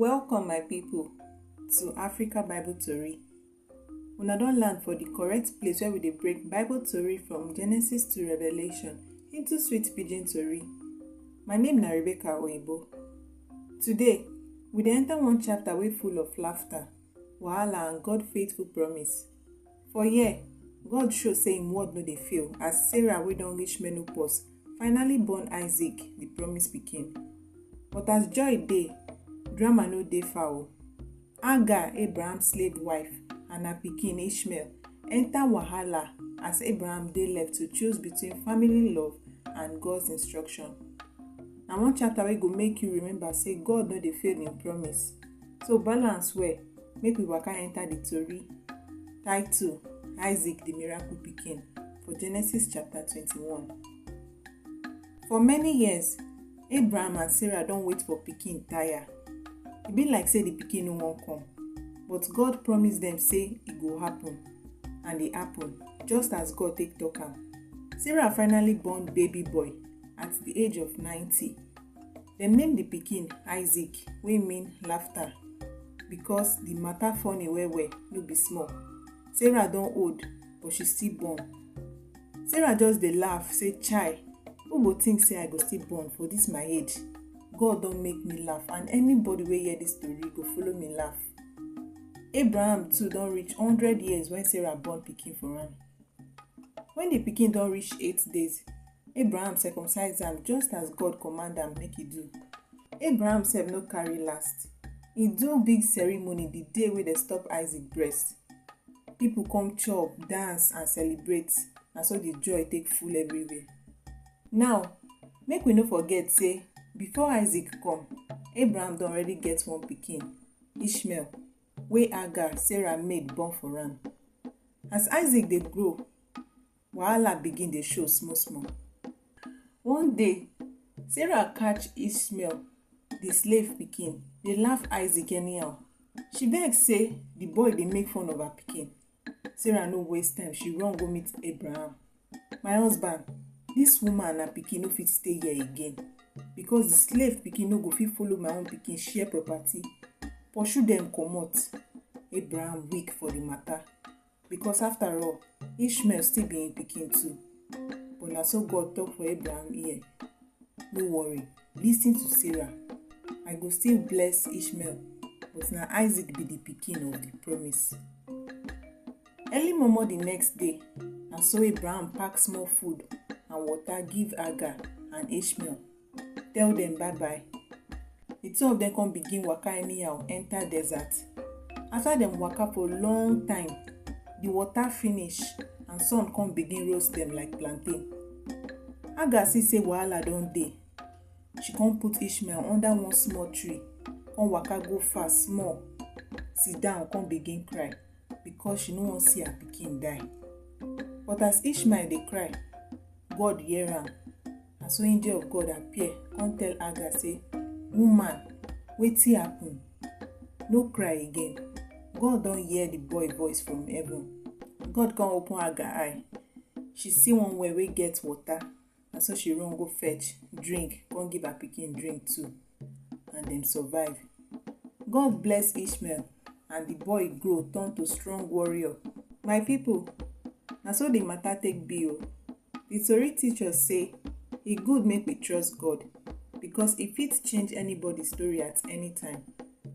Welcome, my people, to Africa Bible Tori. Una don land for the correct place where we dey break Bible Tori from Genesis to Revelation into sweet pidgin Tori. My name na Rebecca Oyibo. Today, we dey enter one chapter wey full of laughter, wahala and God faithful promise. For here, God show say im word no dey fail as Sarah wey don reach menopause finally born Isaac, the promised pikin. But as joy dey, drama no dey far o. Hagar, Abraham slave wife and her pikin Ishmael enter wahala as Abraham dey left to choose between family love and God's instruction. Na one chapter wey go make you remember say God no dey fail im promise. So balance well, make we waka enter the tori. Title Isaac the Miracle Pikin for Genesis chapter 21. For many years, Abraham and Sarah don wait for pikin tire. E be like say the pikin no wan come, but God promise dem say e go happen, and e happen, just as God take talk am. Sarah finally born baby boy at the age of 90. Dem name di pikin Isaac wey mean laughter because di matter funny well well no be small. Sarah don old but she still born. Sarah just dey laugh say chai who go think say I go still born for dis my age? God don make me laugh and anybody wey hear dis tori go follow me laugh. Abraham too don reach hundred years wen Sarah born pikin for am. When the pikin don reach eight days, Abraham circumcised am just as God command am make he do. Abraham sef no carry last. He do big ceremony the day wey dem stop Isaac breast. People come chop, dance and celebrate. Na so the joy take full everywhere. Now, make we no forget say before Isaac come, Abraham don already get one pikin, Ishmael. wey Hagar, Sarah maid, born for am. As Isaac dey grow, wahala begin dey show small-small. One day, Sarah catch Ishmael, the slave pikin, dey laugh Isaac anyhow. She vex say the boy dey make fun of her pikin. sarah no waste time she run go meet abraham my husband this woman and her pikin no fit stay here again because the slave pikin no go fit follow my own pikin share property pursue dem comot abraham weak for the matter because after all ishmael still be im pikin too but na so god talk for abraham ear No worry, listen to Sarah. I go still bless Ishmael, but na Isaac be the pikin of the promise. Early momo the next day, na so Abraham pack small food and water give Agar and Ishmael. Tell them bye bye. The two of them come begin waka anyhow enter desert. After them waka for long time, the water finish and sun come begin roast them like plantain. Hagar see say wahala don dey. She come put Ishmael under one small tree, come waka go far small, sit down come begin cry because she no wan see her pikin die. But as Ishmael dey cry, God hear am na so angel of god appear come tell hagar say woman wetin happen no cry again god don hear the boy voice from heaven god come open hagar eye she see one well wey get water na so she run go fetch drink come give her pikin drink too and dem survive. God bless Ishmael and the boy grow turn to strong warrior. My people, na so the matter take be o. The tori teach us say e good make we trust God because e fit change anybody story at any time.